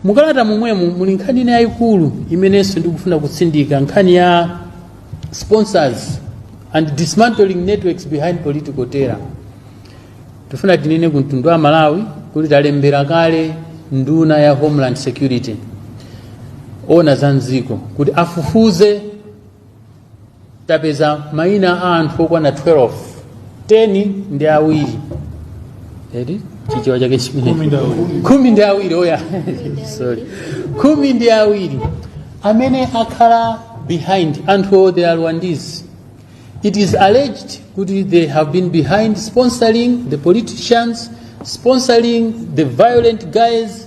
mukalata momwemo muli nkhani ina yayikulu imenenso ndikufuna kutsindika nkhani ya sponsors and dismantling networks behind political terror tifuna tinene ku mtundu wa malawi kuti talembera kale nduna ya homeland security owona za mdziko kuti afufuze tapeza mayina a anthu okwana 12 10 ndi awiri eti chichewa chake chimenecho khumi ndi awiri oya sorry khumi ndi awiri amene akhala behind anthu they are rwandese it is alleged kuti they have been behind sponsoring the politicians sponsoring the violent guys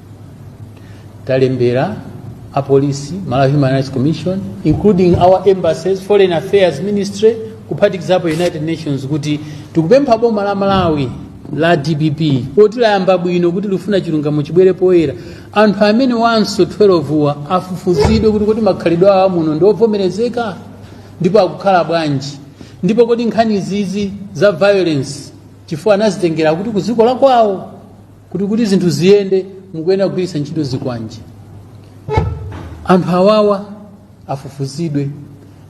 talembera apolisi malawi human rights commission including our embassies foreign affairs ministry kuphatikizapo united nations kuti tikupempha boma la malawi la dpp poti layamba bwino kuti lifuna chilungamo chibwere poyera anthu amenewanso 12 wa afufuzidwe kuti kodi makhalidwe awo amuno ndi ovomerezeka ndipo akukhala bwanji ndipo kodi nkhani izizi za violence chifukwa anazitengera kuti ku dziko lakwawo kuti kuti zinthu ziyende mukuyenera kugwiritsa ntchito zikwanje anthu awawa afufuzidwe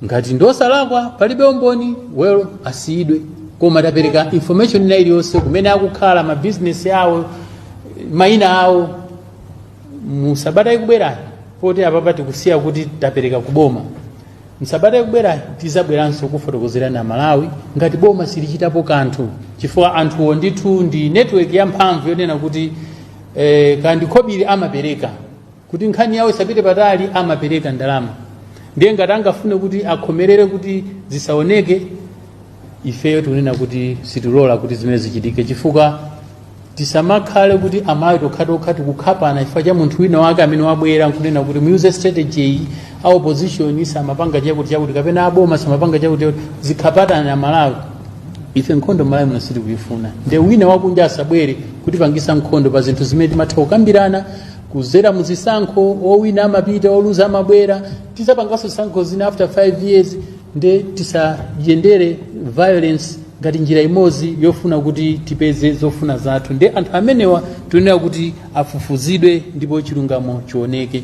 ngati ndosalakwa palibe umboni well asiyidwe koma tapereka information ina iliyonse kumene akukhala mabizinesi awo mayina awo mu sabata ikubwerayi poti apapa tikusiya kuti tapereka kuboma M'sabata ikubwerayi tizabweranso kufotokozerani Amalawi ngati boma silichitapo kanthu chifukwa anthuwo ndithu ndi network yamphamvu yonena kuti eh, kandikhobiri amapereka kuti nkhani yawo isapite patali amapereka ndalama ndiye ngati angafune kuti akhomerere kuti zisaoneke ifeyo tikunena kuti sitilola kuti zimene zichitike chifukwa tisamakhale kuti amalawi tokhatokha tikukhapana chifukwa cha munthu wina wake amene wabwera nkunena kuti muyuze strategy iyi a opposition asamapange chakuti chakuti kapena aboma asamapange chakuti chakuti zikhapanani amalawi ife nkhondo malawi muno sitikuyifuna nde wina wakunja asabwere kutipangisa nkhondo pa zinthu zimene timatha kukambirana kuzera muzisankho owina amapita oluza amabwera tizapanganso zisankho zina after 5 years nde tisayendele violence ngati njira imodzi yofuna kuti tipeze zofuna zathu nde anthu amenewa tikunena kuti afufuzidwe ndipo chilungamo chioneke